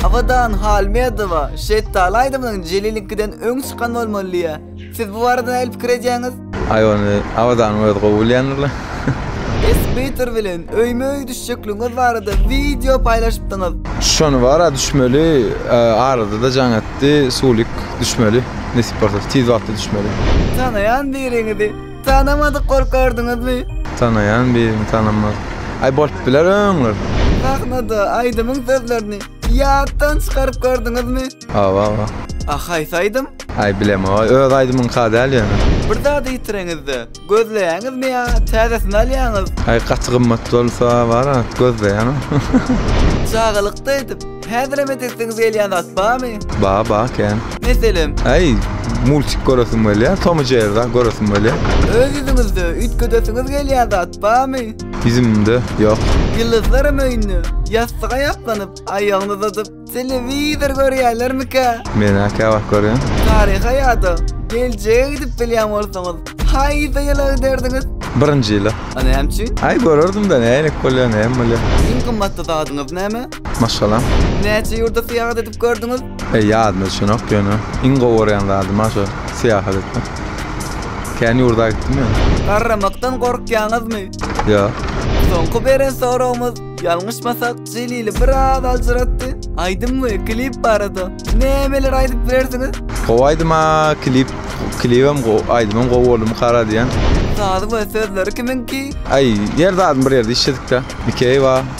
Abadan Halmedowa şetdaly aýdymynyň Jeliliňkiden öň çykan bolmaly diýýär. Siz bu barada nähili pikir edýäňiz? Aý ony Abadanyň özi gowy bilýändirler. Esbeater bilen öýme-öý düşjekligiňiz barada wideo paýlaşypdyňyz. Şony bara düşmeli, arada-da jaň etdi, sulik düşmeli, nesip bolsa tiz wagtda düşmeli. Tanaýan biriňizi. Tanamadyk bolup gördüňizmi? Tanaýan birini tanamaz. Aý bolup biler öňler. Sahnada aýdymyň sözlerini ýatdan çykaryp gördüňizmi? Hawa hawa. A haýsy aýdym? Aý bilemok. Öz aýdymyňka däl ýöne. Bir zady ýitireňizde, gözleýäňizmi ýa täzesini alýaňyz? Aý gaty gymmat bolsa bara gözleýäňiz. Çagalykda edip Häzirem edesiňiz gelýän zat barmy? Bar, bar kän. Meselem? Aý, multik göresim gelýär, Tom we Jerry zat göresim gelýär. Öz ýüzüňizde üýtgedesiňiz gelýän zat barmy? Ýüzümde, ýok. Ýyldyzlaram öýünde, ýassyga ýaslanyp, aýagyny uzadyp, telewizor görýärlermikä? Men-ä käwagt görýän. Taryha ýa-da geljege gidip bilýän bolsaňyz, haýsy ýyla giderdiňiz? Birinji ýyla. A näme üçin? Aý, görerdim-dä, nähili bolýar, näme bolýar. Iň gymmatly zadyňyz näme? Maşgalam. Näçe ýurda syýahat edip gördüňiz? E, ýadyma düşenok ýöne iň gowy görýän zadym ha şo syýahat etmek. Kän ýurda gitdim ýöne. Garramakdan gorkýaňyzmy? Ýok. Soňky beren soragymyz, ýalňyşmasak, Jelili biraz aljyratdy. Aýdym we klip barada nämeler aýdyp bilersiňiz? Gowy aýdyma klip, klibem gowy, aýdymam gowy boldumy kara diýen. Sazy we sözleri kimiňki? Aý, ýer zadyny bir ýerde işledik-de. Mikeýewa,